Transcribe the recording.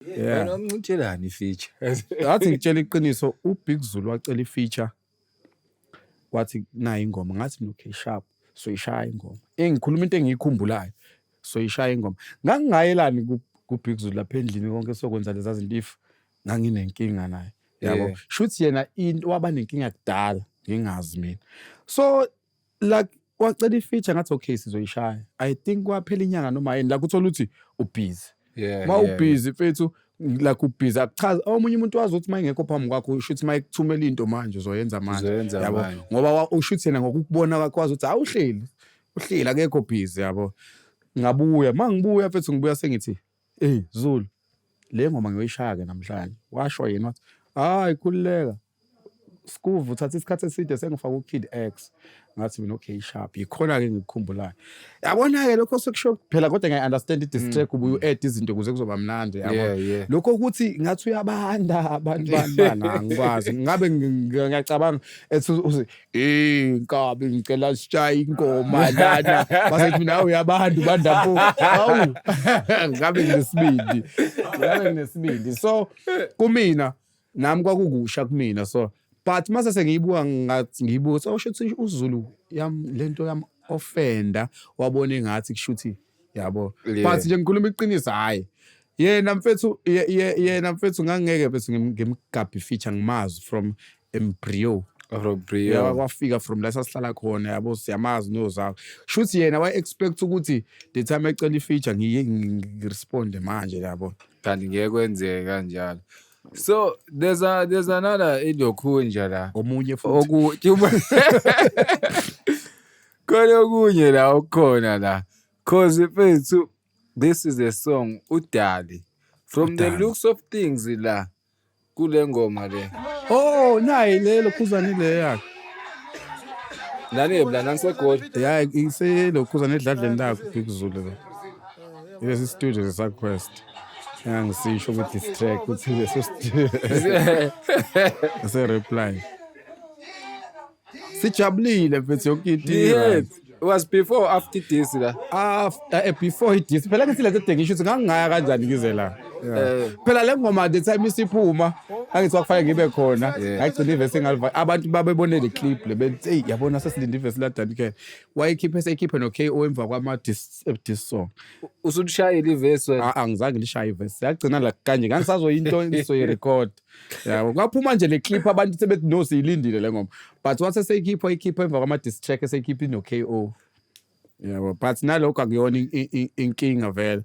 Yeah. Wena umncintshelani ifeature? Ngathi ngitshela iqiniso uBig Zulu wacela ifeature. Wathi nayi ingoma ngathi okay sharp soyishaya ingoma. Engikhuluma into engiyikhumbulayo soyishaya ingoma. Ngangingayelani ku kuBig Zulu lapha endlini konke sokwenza leza zinto if nganginenkinga naye. Yabo. Yeah. Shuthi yena into waba nenkinga kudala ngingazi mina. So like wacela ifeature ngathi okay sizoyishaya i think kwaphela inyanga noma yini like uthola ukuthi ubhizi yeah, ma yeah, ubhizi fethu like ubhizi akuchaza omunye umuntu wazi ukuthi mayingekho phambi kwakho usho ukuthi mayikuthumela into manje uzoyenza manje Uzoyenza yabo manje. ngoba wa- usho ukuthi yena ngokukubona kwakho wazi ukuthi hawu uhleli uhleli akekho bhizi yabo ngabuya ma ngibuya fethu ngibuya sengithi Ey Zulu le ngoma ngiyoyishaya ke namhlanje. Washo yena wathi hayi khululeka. Skuvu uthatha isikhathi eside sengifaka uKid X. Ngathi mina okay sharp yikhona ke ngikukhumbulayo. Yabona ke lokho sekusho phela kodwa ngiya understand i diss track ubuye u-add izinto kuze kuzoba mnandi yabo. Yeah, yeah. Lokho ukuthi ngathi uyabanda abantu bani bani angikwazi. Ngabe ngi- ngiyacabanga ethi uthi Hey nkabi ngicela sishaye ingoma lana basethi mina awu yabantu bandabuko awu ngabe nginesibindi ngabe nginesibindi so kumina nami kwakukusha kumina so but mase sengiyibuka ngathi ngiyibuka so shuthi uZulu yam lento yam offender wabona engathi kushuthi yabo yeah. but nje ngikhuluma iqiniso hhayi yena mfethu yena mfethu ngangeke mfethu ngimgabhi feature ngimazi from embryo Robrio kwafika from la sasihlala khona yabo siyamazi nozawo shuthi yena wa expect ukuthi the time ecela ifeature ngiye ngiresponde manje yabo kanti ngeke kwenzeke kanjalo so there's a there's another ilokhunja la omunye futhi Khona okunye la okukhona la. Cause mfethu this is a song uDali. From the Udali. looks of things la kule ngoma le. Oh, nayi lelo khuzane le yakhe. Nani ebla nanisegoli. Ya iselo khuzane edladleni lakho Big Zulu le. Lesi studio sesaquest. Engangisisho ukuthi this track ukuthi lesi studio se reply. sijabulile mfethu yonke into Yes. It was before or after this la. after eh, before idis phela ngithi lento dengisho ukuthi ngangingaya kanjani ngize la Eh. phela le ngoma the time isiphuma angithi kwakufanele ngibe khona ngayigcina ivesi engaliva abantu babebone le clip le bethi eyi yabona sesilinde ivesi ladanikele wayekhiphe seyikhiphe no-ko emva kwama-dis eh, dis song Usushayile ivesi wena. Ah, angizange lishaye ivesi yagcina la kanje ngangisazoyinto engizoyirekhodi yabo kwaphuma nje le clip abantu sebethi no siyilindile le ngoma but once eseyikhipha ikhipha emva kwama diss track eseyikhipha ino KO yabo but nalokho akuyona in- in- in- inkinga vele